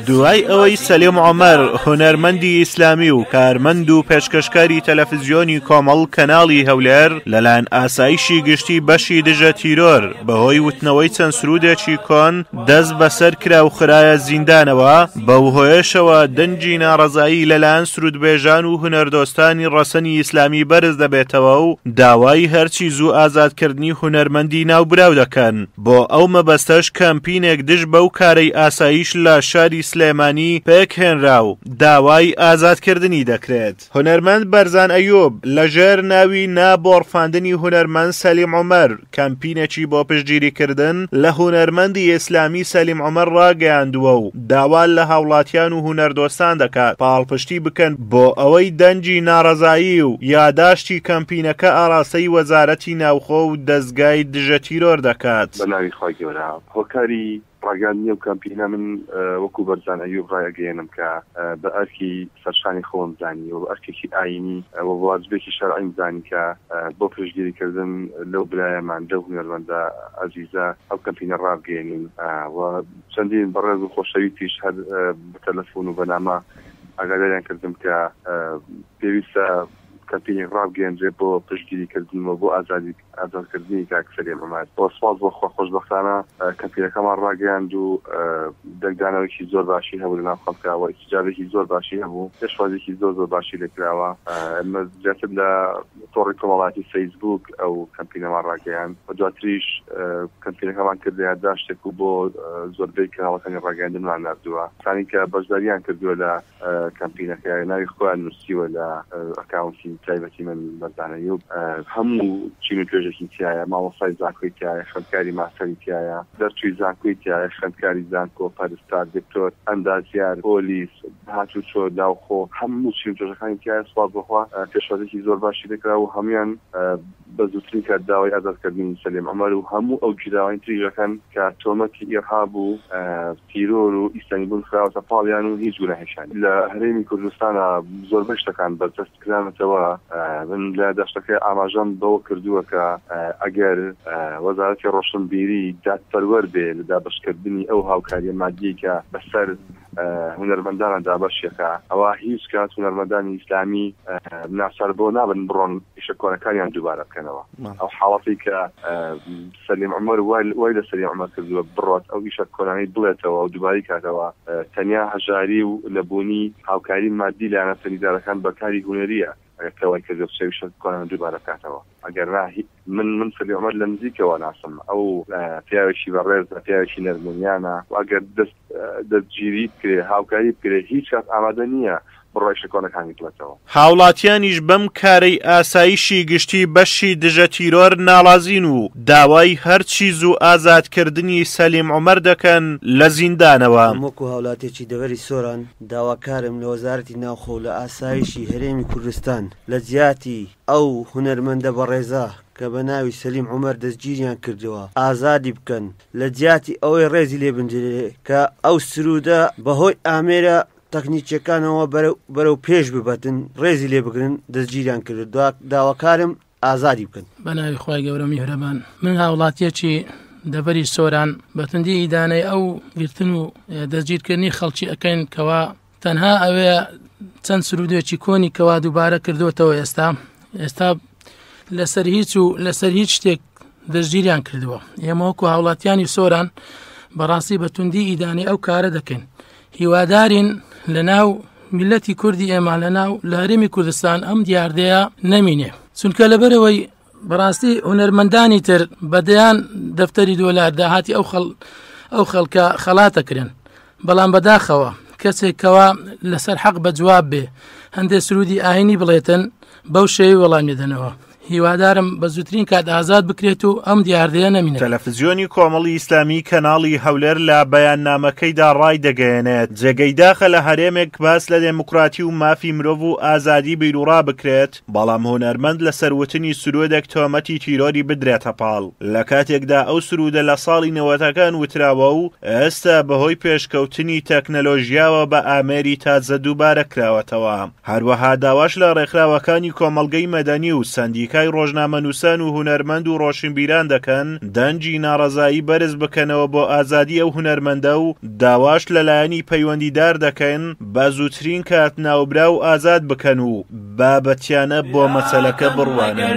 دوای ئەوەی سەلیم عومەر هونەرمەندی ئیسلامی و کارمەند و پێشکەشکاری تەلەفزیۆنی کۆمەڵ کەناڵی هەولێر لەلایەن ئاسایشی گشتی بەشی دژە تیرۆر بەهۆی وتنەوەی چەند سرودێکی کۆن دەست بەسەر کرا و خراە زیندانەوە بەو هۆیشەوە دەنگی ناڕەزایی لەلایەن سرودبێژان و هونەردۆستانی ڕەسەنی ئیسلامی بەرز دەبێتەوە و داوای هەرچی زوو ئازادکردنی هونەرمەندی ناوبراو دەکەن. بۆ ئەو مەبەستەش کەمپینێک دژ بەو کارەی ئاسایش لە شاری سلێمانی پێکهێنرا و داوای ئازادکردنی دەکرێت. هونەرمەند بەرزان ئەیوب لە ژێر ناوی نا بۆڕفاندنی هونەرمەند سەلیم عومەر کەمپینێکی بۆ پشتگیریکردن لە هونەرمەندی ئیسلامی سەلیم عومەر ڕاگەیاندووە و داوا لە هاوڵاتیان و هونەردۆستان دەکات پاڵپشتی بکەن بۆ ئەوەی دەنگی ناڕەزایی و یاداشتی کەمپینەکە ئاڕاستەی وەزارەتی ناوخۆ و دەزگای دژە تیرۆر دەکات. بەناوی خوای گەورە هۆکاری ڕاگەاندنی ئەو کەمپینە من وەکو بەرزان ئەیوب ڕایئەگەیەنم کە بە ئەرکی سەرشانی خۆم زانی وە بە ئەرکێکی ئاینی وە واجبێکی شەرعیم زانی کە بۆ پشتگیری کردن لەو برایەمان لەو هونەرمەندە ئەزیزە ئەو کەمپینە ڕابگەیەنین وە چەندین بەڕێز و خۆشەویستیش هەر بە تەلەفون و بە نامە ئاگاداریان کردم کە پێویستە کەمپینێک ڕابگەیەندرێت بۆ پشتگیری کردن و بۆ ئازادی ئازاد کردنی کاک سەلیم عومەر و سوپاس بۆ خوا خۆشبەختانە کەمپینەکەمان ڕاگەیاند و دەنگدانەوەیەکی زۆر باشی هەبوو لە ناو خەڵکا و ئیستیجابەیەکی زۆر باشی هەبوو پێشوازیەکی زۆر زۆر باشی لێ کراوە ئێمە زیاتر لە تۆڕی کۆمەڵایەتی فەیسبووک ئەو کەمپینەمان ڕاگەیاند و دواتریش کەمپینەکەمان کردە یادداشتێک و بۆ زۆربەی کەناڵەکانی ڕاگەیاندنمان ناردووە. کەسانی کە بەشدارییان کردووە لە کەمپینەکە ناوی خۆیان نووسیوە لە ئەکاونتی تایبەتی من، مەردانە یوب، هەموو چین و توێژێکی تیایە، مامۆستای زانکۆی تیایە، خوێندکاری ماستەری تیایە، دەرچووی زانکۆی تیایە، خوێندکاری زانکۆ، پەرستار، دکتۆر، ئەندازیار، پۆلیس، هاتوچۆ، ناوخۆ، هەموو چین و توێژەکانی تیایە، سوپاس بەخوا پێشوازیەکی زۆر باشی لێکرا و هەموویان بە زووترین کات داوای ئازادکردنی سەلیم عومەر و هەموو ئەو گیراوانی تریش ئەکەن کە تۆمەتی ئیرهاب و تیرۆر و ئیسلامی بوون خراوەتە پاڵیان و هیچ گوناهێکیان لە هەرێمی کوردستانا زۆربەی شتەکان بەرتەسک کرانەتەوە، من لە داشتەکە ئاماژەم بەوە کردووە کە ئەگەر وەزارەتی ڕۆشنبیری دادپەروەر بێ لە دابەشکردنی ئەو هاوکاریە مادیەی کە بەسەر. هونەرمەندانە دابەشیەکا ئەوا هیچ کات هونەرمەندانی ئیسلامی ناچار بەوە نابن بڕۆن ئیشە کۆنەکانیان دووبارە بکەنەوە ئەو حاڵەتەی کە سەلیم عومەر وای لە سەلیم عومەر کردووە بڕۆت ئەو ئیشە کۆنانەی بڵێتەوە و دووبارەی کاتەوە تەنیا هەژاری و نەبوونی هاوکاری مادی لایەنە سەنگیدارەکان بە کاری هونەریە ئەگەر کە وای کردی قسەی وشە بکۆنەوە دووبارە بکاتەوە ئەگەر نا هی من من سەدی عومەر لە نزیکەوە ناسم ئەو پیاوێکی بەڕێزە پیاوێکی نەرمونیانە و ئەگەر دەست دەستگیری بکرێ هاوکاری بکرێ هیچ کات ئامادە نییە بڕای ئیشە کۆنەکانی بڵێتەوە. هاوڵاتیانیش بەم کارەی ئاسایشی گشتی بەشی دژە تیرۆر ناڵازین و داوای هەرچی زوو ئازادکردنی سەلیم عومەر دەکەن لە زیندانەوە. من وەکو هاوڵاتیەکی دەڤەری سۆران، داواکارم لە وەزارەتی ناوخۆ و لە ئاسایشی هەرێمی کوردستان لە جیاتی ئەو هونەرمەندە بەڕێزە کە بە ناوی سەلیم عومەر دەستگیریان کردووە ئازادی بکەن لە جیاتی ئەوەی ڕێزی لێ بنرێ کە ئەو سروودە بە هۆی ئامێرە تەکنیکیەکانەوە بەرەو پێش ببەن ڕێزی لێ بگرن دەستگیریان کرد داواکارم ئازادی بکەن. بەناوی خوای گەورە میهرەبان من هاوڵاتیەکی دەڤەری سۆران بەتوندی ئیدانەی ئەو گرتن و دەستگیرکردنی خەڵکی ئەەکەین کەوا تەنها ئەوێ چەند سرودێکی کۆنی کەوا دووبارە کردوتەوە ئێستا ئێستا لەسەر هیچ و لەسەر هیچ شتێک دەستگیریان کردووە ئێمەوەکو هاوڵاتیانی سۆران بەڕاستی بەتوندی ئیدانی ئەو کارە دەکەین هیوادارین لەناو میلەتی کوردی ئێمە لەناو لە هەرێمی کوردستان ئەم دیاردەیە نەمینێ چونکە لەبەرەوەی بەڕاستی هونەرمەندانی تر بەدەیان دەفتەری دۆلار داهاتی ئەو خەڵ ئەو خەڵکە خەڵاتەکرێن بەڵام بەداخەوە کەسێکەوە لەسەر حەق بە جواب بێ هەندێک سرودی ئاینی بڵێتن بەو شێوی وەڵامیدەنەوە هیوادارم بە زووترین کات ئازاد بکرێت و ئەم دیاردەیە نەمینێت. تەلەفزیۆنی کۆمەڵی ئیسلامی کەناڵی هەولێر لە بەیاننامەکەیدا ڕایدەگەیەنێت، جێگەی داخە لە هەرێمێک باس لە دێموکراتی و مافی مرۆڤ و ئازادی بیروڕا بکرێت، بەڵام هونەرمەند لەسەر وتنی سروودێک تۆمەتی تیرۆری بدرێتە پاڵ، لە کاتێکدا ئەو سروودە لە ساڵی نەوەتەکان وتراوە و ئێستا بەهۆی پێشکەوتنی تەکنەلۆژیاوە بە ئامێری تازە دووبارە کراوەتەوە. هەروەها داواش لە ڕێکخراوەکانی کۆمەڵگەی مەدەنی و سەندیکای ڕۆژنامەنووسان و هونەرمەند و ڕۆشنبیران دەکەن دەنگی ناڕەزایی بەرز بکەنەوە بۆ ئازادی ئەو هونەرمەندە و داواش لە لایەنی پەیوەندیدار دەکەن بە زووترین کات ناوبراو ئازاد بکەن و بابەتیانە بۆ مەسەلەکە بڕوانن.